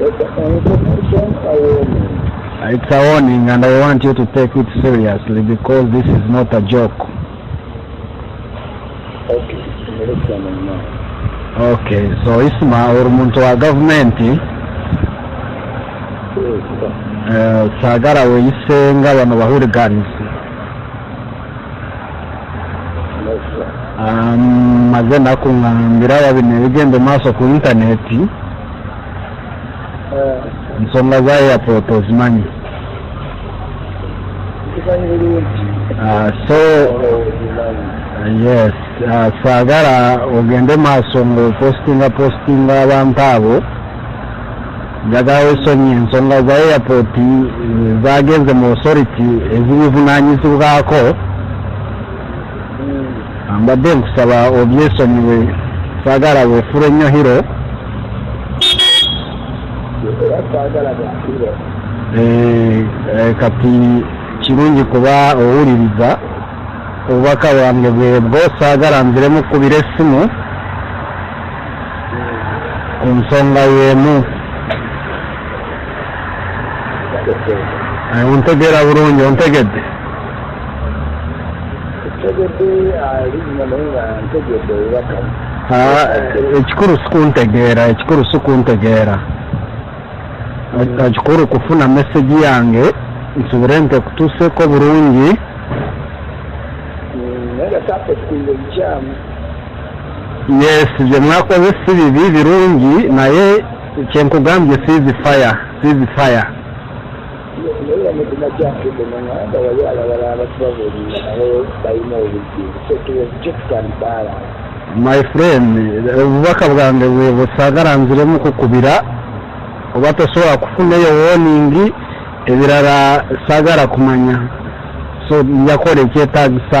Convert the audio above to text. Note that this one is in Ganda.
It's an information awareness. It's a warning and I want you to take it seriously because this is not a joke. Okay, okay so Isma uri muntu wa gavumenti sagara eh, weyise nga bano bahuriganizi maze naku nga mbiraba bino ebigenda maaso ku intaneti eh. ensonga za airport ozimanyi ah, so yes ah, saagala ogende maaso ngaopostinga postinga abantu abo njagala wesonyi ensonga za airport zagenze mu authority ezibivunanyizibwako mbadde nkusaba obyesonyiwe sagala wefula ennyo hiro eh, eh, kati kirungi kuba owuliriza obubaka bwange bwebwo saagala nzire mukubira essimu ku nsonga y'emu ontegeera bulungi ontegedde ekikulu sikuntegeera ekikulu sikuntegeera ekikulu kufuna message yange nsubire nti ekutuuseeko bulungi yes bye mwakoze si bibi birungi naye kyenkugambye sizi fire sizi fire naye amazima gyaffe genaŋanda wali alabala abatubabuulira nabo balina obudde so tuwekyo tutandibaala my friend obubaka bwange bwebusagala nziremu kukubira oba tosobola kufunayo woningi ebirala sagala kumanya so njakola ekyetagisa